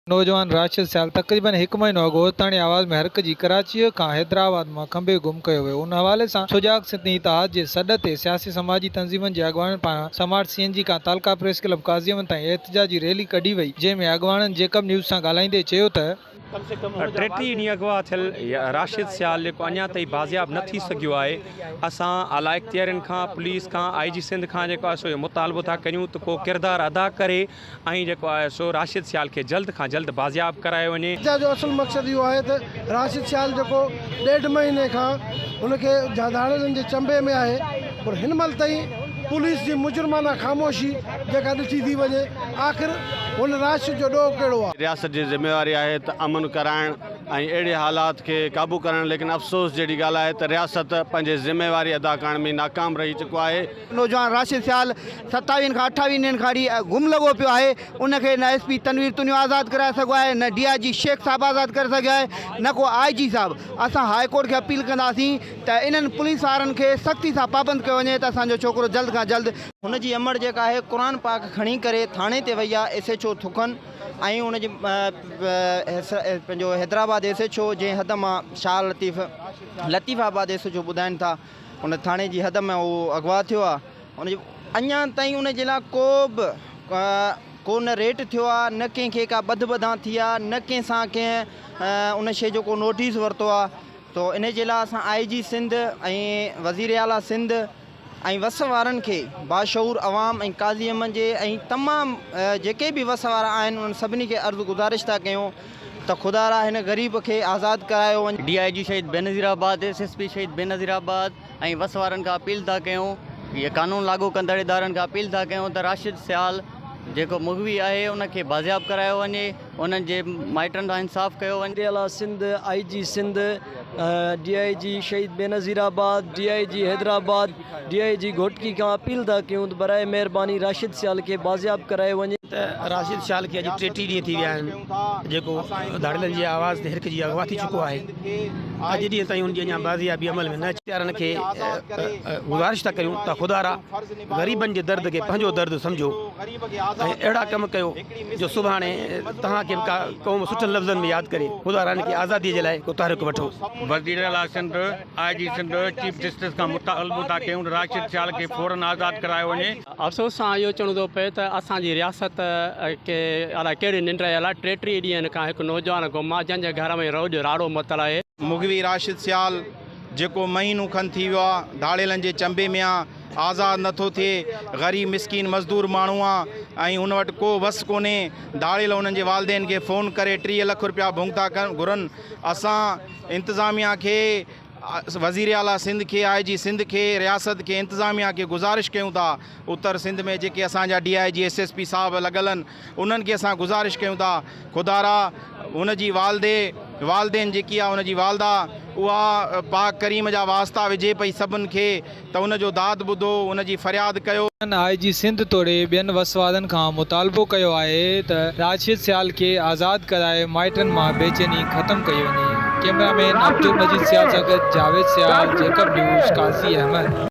نوجوان راشد سيال تقريبن هڪ مهينو اڳ اوستاڻي آواز ۾ هرک جي ڪراچيء کان حيدرآباد مان کنڀي گم ڪيو ويو ان حوالي سان سجاڳ سنڌين اتحاد جي سڏ تي سياسي سماجي تنظيمن جي اڳواڻن پاران سمارٽ سي اين جي کان تعلقه پريس ڪلب قاضيامن تائين احتجاجي ريلي ڪڍي وئي جنهن ۾ اڳواڻن جيڪب نيوز سان ڳالهائيندي چيو ته ٽيٽيهه ڏينهن اغوا ٿيل راشد سيال جيڪو اڃا تائين بازياب نه ٿي سگهيو آهي اسان اعليٰ اختيارين کان پوليس کان آء جي سنڌ کان جيڪو آهي سو اهو مطالبو ٿا ڪريون ته ڪو ڪردار ادا ڪري ۽ جيڪو آهي سو راشد سيال کي جلد کان جلد بازياب ڪرايو وڃي. جنهن جو اصل مقصد اهو آهي ته راشد سيال جيڪو ڏيڍ مهيني کان هن کي ڌاڙيلن جي چنبي ۾ آهي پر هن مهل تائين پوليس جي مجرمانه خاموشي جيڪا ڏٺي ٿي وڃي آخر هن راشد جو ڏوهه ڪهڙو آهي. رياست جي ذميواري آهي ته امن ڪرائڻ ۽ اهڙي حالات کي قابو ڪرڻ ليڪن افسوس جهڙي ڳالهه آهي ته رياست پنهنجي ذميواري ادا ڪرڻ ۾ ناڪام رهي چڪو آهي. نوجوان راشد سيال ستاويهن کان اٺاويهن ڏينهن کان اھڙي گم لڳو پيو آھي ان کي نه ايس پي تنوير تنيو آزاد ڪرائي سگهيو آھي نه ڊي آء جي شيخ صاحب آزاد ڪري سگهيو آھي نه ڪو آء جي صاحب اسان ھاء ڪورٽ کي اپيل ڪنداسين ته انهن پوليس وارن کي سختي سان پابند ڪيو وڃي ته اسان جو ڇوڪرو جلد کان جلد ھن جي امڙ جيڪا آھي قرآن پاڪ کڻي ڪري ٿاڻي تي وئي آھي ايس ايڇ او ٿڪن ۽ ان جي پنهنجو حيدرآباد ايس ايڇ او جنهن حد مان شال Latif Latifabad S H O ٻڌائين ٿا ان ٿاڻي جي حد ۾ هو اغوا ٿيو آهي ان جي اڃا تائين ان جي لا ڪو به ڪو نه ريٽ ٿيو آهي نه ڪنهن کي ڪا ٻڌ ٻڌان ٿي آهي نه ڪنهن سان ڪنهن ان شي جو ڪو نوٽيس ورتو آهي تو ان جي لا اسان آئي جي سنڌ ۽ وزير اعليٰ سنڌ ۽ وس وارن کي باشعور عوام ۽ قاضي احمد جي ۽ تمام جيڪي به وس وارا آهن انهن سڀني کي عرض گذارش ٿا ڪيون ته خدا را هن غريب کي آزاد ڪرايو وڃي. D I G Shaheed Benazirabad, S S P Shaheed Benazir آباد ۽ وس وارن کان اپيل ٿا ڪيون ۽ قانون لاڳو ڪندڙ ادارن کان اپيل ٿا ڪيون ته راشد سيال جيڪو مغوي آهي ان کي بازياب ڪرايو وڃي انهن جي مائٽن سان انصاف ڪيو وڃي. وزير اعليٰ سنڌ، آئي جي Sindh, D I G Shaheed Benazirabad, D I G Hyderabad, D I G Ghotki کان اپيل ٿا ڪيون ته براء مهرباني راشد سيال کي بازياب ڪرايو وڃي. ته راشد سيال کي اڄ ٽيٽيهه ڏينهن ٿي ويا آهن جيڪو ڌاڙيلن جي آواز تي هرڪجهي جي اغوا ٿي چڪو آهي اڄ ڏينهن تائين ان جي اڃا بازيابي عمل ۾ نه اچي اختيارن کي گذارش ٿا ڪريون ته خدارا غريبن جي درد کي پنهنجو درد سمجهو ۽ اهڙا ڪم ڪيو جو سڀاڻي توهان کي به ڪا قوم سٺن لفظن ۾ ياد ڪري خدارا هن کي آزادي جي لاء ڪو تحرڪ وٺو. وزيراعليٰ Sindh I G Sindh chief justice کان مطالبو ٿا ڪيون ته راشد سيال کي فورن آزاد ڪرايو وڃي. افسوس سان اهو چوڻو ٿو پئي ته اسان جي رياست کي الاء ڪهڙي ننڊ رهيل آهي، ٽي ٽي ڏينهن کان هڪ نوجوان گم آهي جنهن جي گهر ۾ روڄ راڙو متل آهي. مغوي راشد سيال جيڪو مهينو کن ٿي ويو آهي ڌاڙيلن جي چنبي ۾ آهي آزاد نه ٿو ٿئي، غريب مسڪين مزدور ماڻهو آهي ۽ هن وٽ ڪو وس ڪونهي، ڌاڙيل هنن جي والدين کي فون ڪري ٽيهه لک رپيا ڀوڳتا ڪن گهرن، اسان. انتظاميا کي، وزير اعليٰ سنڌ کي، آء جي سنڌ کي، رياست کي، انتظاميا کي گذارش ڪيون ٿا اتر سنڌ ۾ جيڪي اسان جا D I G S S P صاحب لڳل ان انهن کي اسان گذارش ڪيون ٿا خدارا هن جي والدي والدين جيڪي آ هن جي والده اها پاڪ ڪريم جا واسطا وجهي پئي سڀن کي ته ان جو داد ٻڌو، ان جي فرياد ڪيو. انهن آء جي سنڌ توڙي ٻين وسوادن کان مطالبو ڪيو آهي ته راشد سيال کي آزاد ڪرائي مائٽن مان بيچيني ختم ڪئي وڃي. ڪيمرا مين عبدالمجيد سيال سان گڏ جاويد سيال، جيڪب نيوز، قاضي احمد.